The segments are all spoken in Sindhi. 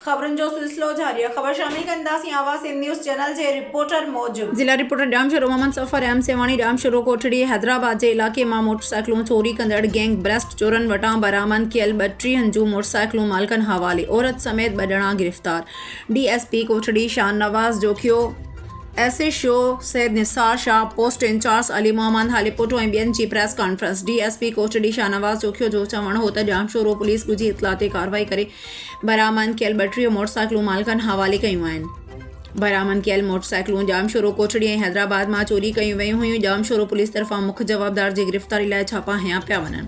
خبرن جو سلسلو جاري آهي خبر شامل ڪنداسين آواز سنڌ نيوز چينل جي رپورٽر موجب. ضلع رپورٽر ڄامشورو محمد سفر ايم سيوهاڻي ڄامشورو ڪوٺڙي حيدرآباد جي علائقي مان موٽرسائيڪلون چوري ڪندڙ گينگ برسٽ چورن وٽان برآمد ڪيل ٻٽيهن جون موٽرسائيڪلون مالڪن حوالي عورت سميت ٻه ڄڻا گرفتار D S P Kotri Shahnawaz Jokhio S H O Syed Nisar Shah post incharge Ali Muhammad Halepoto ۽ ٻين جي press conference D S P Kotri Shahnawaz Jokhio جو چوڻ هو ته ڄامشورو پوليس ڳجهي اطلاع تي ڪارروائي ڪري برآمد ڪيل ٻٽيهه موٽرسائيڪلون مالڪن حوالي ڪيون آهن. برآمد ڪيل موٽرسائيڪلون ڄامشورو، ڪوٽڙي ۽ حيدرآباد مان چوري ڪيون ويون هيون، ڄامشورو پوليس طرفان مک جوابدار جي گرفتاري لاء ڇاپا هنيا پيا وڃن،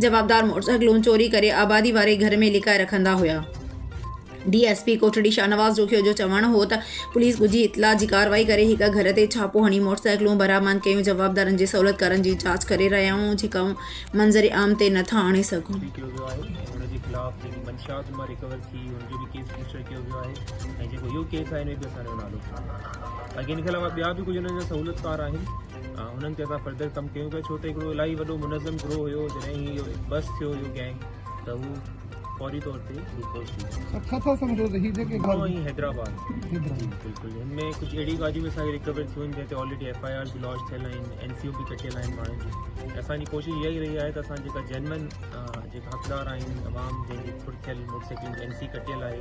جوابدار موٽرسائيڪلون چوري ڪري آبادي واري گهر ۾ لڪائي رکندا هيا. D S P Kotri Shahnawaz Jokhio جو چوڻ هو ته پوليس ڳجهي اطلاع جي ڪارروائي ڪري هڪ گهر تي ڇاپو هڻي موٽرسائيڪلون برآمد ڪيون، جوابدارن جي سهولتڪارن جي جاچ ڪري رهيا آهيون، جيڪا منظر عام تي نه ٿا آڻي سگهون. ڪيو ويو آهي ۽ ان جي خلاف جيڪي منشيات مان ريڪور ٿي ان جو به ڪيس رجسٽر ڪيو ويو آهي ۽ جيڪو اهو ڪيس آهي ان ۾ به اسان جو نالو ٿيو آهي باقي ان کي علاوه ٻيا به ڪجهه انهن جا سهولتڪار آهن انهن تي اسان فردر ڪم ڪيون پيا ڇو ته هڪڙو الاهي وڏو منظم گروهه هيو جڏهن هي اهو بس ٿيو اهو گينگ ته هو فوري طور تي گلوڪوز ڏيندو آهي سر ڇا ٿا سمجهو ته هي جيڪي گهر ۽ حيدرآباد حيدرآباد بلڪل هن ۾ ڪجهه اهڙيون ڳالهيون به اسانکي رڪور ٿيون آهن جنهن تي آلريڊي ايف آء آرز به لانچ ٿيل آهن اين سي او به ڪٽيل آهن ماڻهن جون اسان جي ڪوشش اها ئي رهي آهي ته اسان جيڪا جينون جيڪا حقدار آهن عوام جنهن جي ڦڙ ٿيل موٽر سائيڪلن جي اين سي ڪٽيل آهي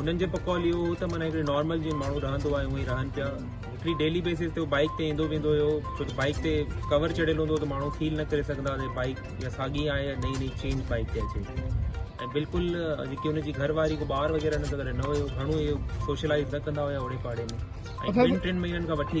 انهن جو پڪول اهو هو ته معنيٰ هڪڙي نارمل جيئن ماڻهو رهندو آهي هونئن ئي رهن پيا هڪڙي ڊيلي بيسز تي هو بائيڪ تي ايندو ويندو هيو ڇو ته بائيڪ تي ڪور چڙهيل هوندو هو ته ماڻهو فيل نه ڪري سگهندا هئا ته بائيڪ يا ساڳي آهي يا نئين نئين چينج بائيڪ تي اچي ۽ بلڪل جيڪي هن جي گهر واري ٻار وغيره هن سان گڏ نه هيو گهڻو اهي سوشلائز نه ڪندا هيا اوڙي پاڙي ۾ ۽ ٻن ٽن مهينن کان وٺي